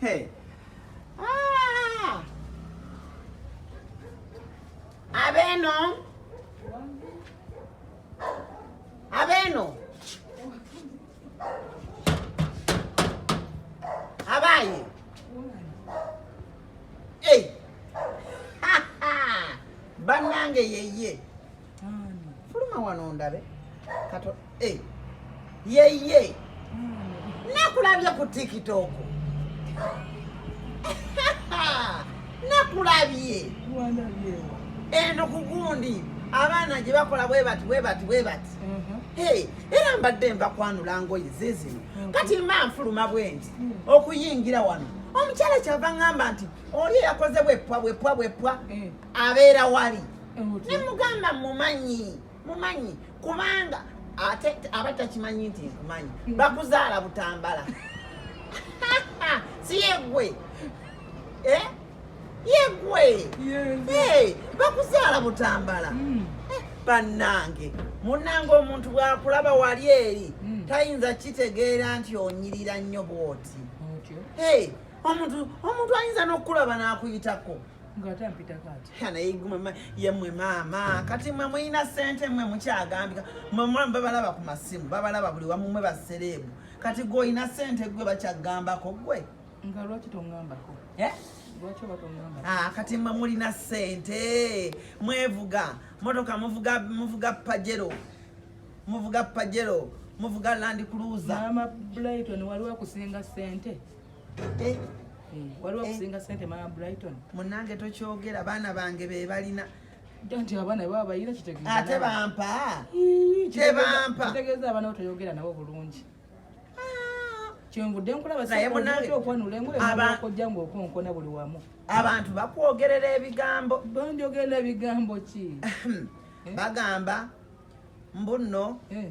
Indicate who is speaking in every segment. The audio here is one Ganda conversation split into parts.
Speaker 1: Hey. Ah! Abeno. Abeno. Abaye. Hey. Banange yeye. fuluma wano ndabe kato eh. yeye nakulabye ku tiktok nakulabye eno kugundi abaana gye bakola bwebati bwebati bwebati mhm. era mbadde mbakwanula ngoye zezino mhm. kati mba nfuluma bwenti mhm. okuyingira wano omukyala kyava ŋamba nti oli eyakoze bwepwa bwepwa bwepwa abeera wali ne mugamba mumanyi mumanyi kubanga ate aba takimanyi nti nkumanyi hmm. bakuzaala butambala si yegwe eh? yegwe bakuzaala butambala hmm. eh, bannange munnange omuntu bwakulaba wali eri hmm. tayinza kitegeera nti onyirira nnyo bwoti omuntu ayinza n'okukulaba n'akuyitako ng'ate ampitako ati naye guma yemwe maama kati mwe mulina sente mwe mukyagambika mwe mulamu babalaba ku masimu babalaba buli wamu mwe basereebu kati gwe olina sente gwe bakyagambako gwe nga lwaki
Speaker 2: tongambako eh? Ah, kati mwe mulina
Speaker 1: sente mwevuga motoka muvuga muvuga pajero muvuga pajero muvuga land cruiser mama Brighton
Speaker 2: waliwo kusinga sente eh. hmm. waliwo eh. kusinga sente mama brighton munange tokyogera
Speaker 1: baana bange bebalina nti abaana
Speaker 2: baba bayina kitegeeza ate bampa
Speaker 1: tebampa
Speaker 2: kitegeeza abaana bo toyogera nabo bulungi ah. kyenvudde nkulabaokwanulaengoyakojja ngaokonkona buli wamu abantu bakwogerera
Speaker 1: ebigambo banjogerera
Speaker 2: ebigambo ki eh? bagamba
Speaker 1: mbuno eh.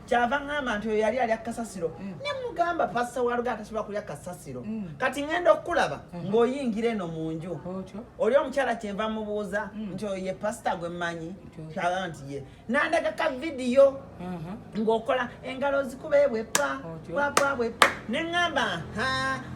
Speaker 1: kyava ŋŋamba nti oyo yali alya kasasiro mm. ne mugamba pasita walugaa tasobola kulya kasasiro mm. kati ŋŋenda okukulaba mm. ng'oyingira eno mu nju oli omukyala kyenva mubuuza nti oyo ye pasita gwe mmanyi kyaba nti ye nandaga ka vidiyo mm-hmm. ng'okola engalo zikuba ebwepa papa bwepa ne ŋŋamba ha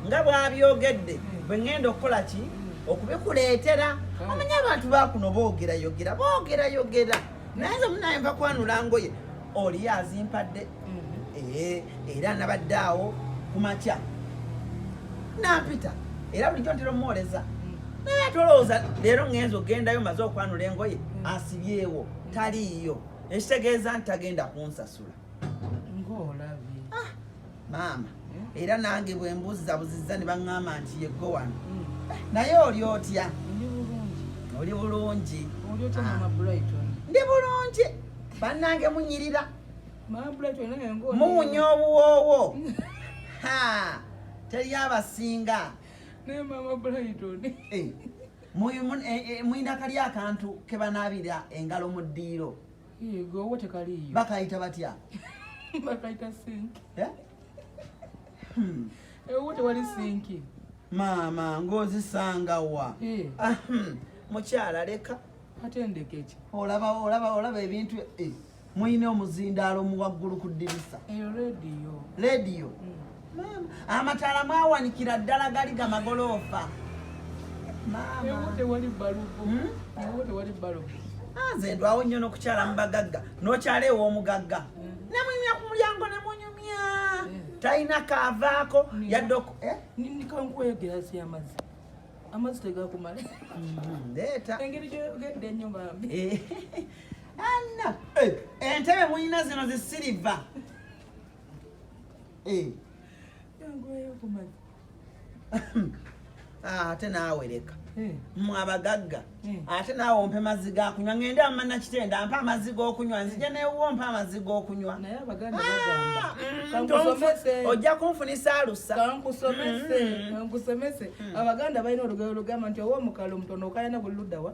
Speaker 1: nga bwabyogedde bwe ŋŋenda okukola ki okubikuleetera omanya abantu bakuno boogerayogera boogerayogera naye nze munaye nva kwanula ngoye oli azimpadde mhm. eh, era nabadde awo kumakya nampita era bulijjo ntera omuwooleza mm. naye tolowooza leero ngenza ogendayo maze okwanula engoye mm. asibyewo mm. taliiyo ekitegeeza nti tagenda kunsasula ngaolabye maama era nange bwe mbuzza buzizza ne baŋŋamba nti yeggo wano mm. naye oli otya oli bulungi ah. ndi bulungi bannange munyirira muwunya obuwoowo teri abasinga eh, eh, eh, muyina kali akantu kebanaabira engalo mu ddiiro bakayita batya bakayita
Speaker 2: sinki eh? hmm. ewo tewali sinki maama
Speaker 1: ng'ozisanga wa eh. ah, hmm. mukyala leka ate ndeka eki
Speaker 2: olaba olaba olaba
Speaker 1: ebintu eh. mulina omuzindaalo muwaggulu ku ddirisa rediyo rediyo hmm. amataala mwawanikira ddala gali gamagoloofa
Speaker 2: nze ndwawo nnyo
Speaker 1: nokukyala mu bagagga nokyala ew'omugagga nemunyumya ku mulyango nemunyumya talina kaavaako yadde eh? kankweyogera
Speaker 2: si amazzi amazzi tegakumala mm-hmm. leeta
Speaker 1: engeri gyogedde
Speaker 2: ennyo bambi eh.
Speaker 1: anna eh, entebe mulina zino zisiriva Eh. Ah, ate naawe leka eh. mwe abagagga eh. ate naawe ompe mazzi gakunywa ngende amana kitenda mpa amazzi gokunywa nzija newuwo mpa amazzi gokunywa
Speaker 2: ah, mm, ojja kunfunisa
Speaker 1: alusa
Speaker 2: mm. abaganda balina olugero lugamba nti owoomukalo omutono okayana buli luddawa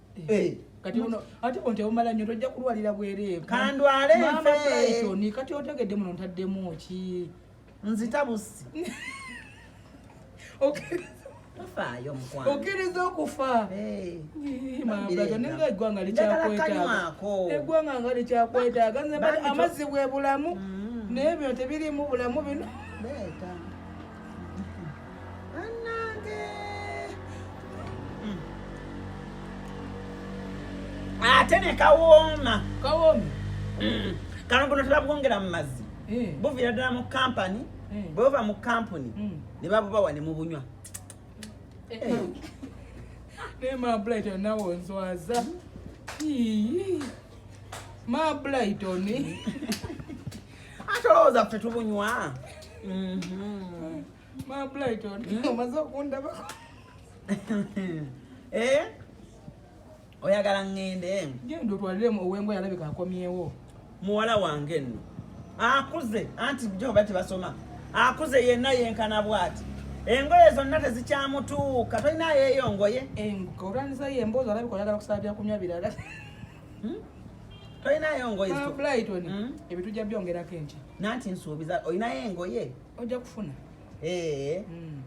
Speaker 1: Eh.
Speaker 2: kati uno ate onte omala nyo tojja kulwalira bwerevu kandwale mama
Speaker 1: Brighton ni kati otegedde muno
Speaker 2: ntaddemu ki nzita
Speaker 1: busi okay tofaayo mukwano okkiriza okufa
Speaker 2: naye eggwanga likyakwetaaga eggwanga nga likyakwetaaga amazzi bwe bulamu mm. naye bino tebirimu bulamu bino
Speaker 1: ate ne kawooma kawooma mm. kano kuno tebabwongera mu mazzi eh. buviira ddala mu kampani eh. bwebava mu kampuni mm. ne babubawa ne mubunywa
Speaker 2: eh. naye mablighton nawe onswaza mablighton
Speaker 1: ate olowooza ffe tubunywa
Speaker 2: omaze okundabako eh?
Speaker 1: oyagala ŋŋende genda otwaliremu
Speaker 2: owembwa yalabika akomyewo muwala wange
Speaker 1: nno akuze anti joba tebasoma akuze yenna yenkana bwati engoye zonna tezikyamutuuka tolina yeeyo ngoye olwanisayo
Speaker 2: emboozi alabika oyagala kusaba byakunywa birala hmm?
Speaker 1: tolinayo engoye ah, brighton hmm?
Speaker 2: ebintu ja byongerako enkya nanti nsuubiza
Speaker 1: olinayo engoye ojja kufuna
Speaker 2: ee
Speaker 1: hmm.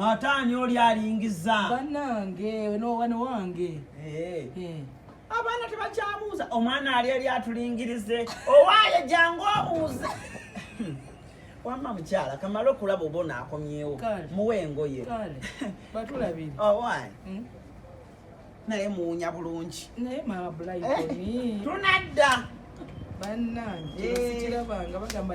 Speaker 1: ate ani oli alingiza banange
Speaker 2: nowana wange
Speaker 1: abaana tebakyabuuza omwana ali ali atulingirize owaaye jangu obuuze wamma mukyala kamala okulaba oba onaakomyewo muwe engoye batulabire
Speaker 2: owaaye oh, hmm?
Speaker 1: naye muwunya bulungi naye mabulayi
Speaker 2: eh? tunadda bannange eh. sikirabanga bagamba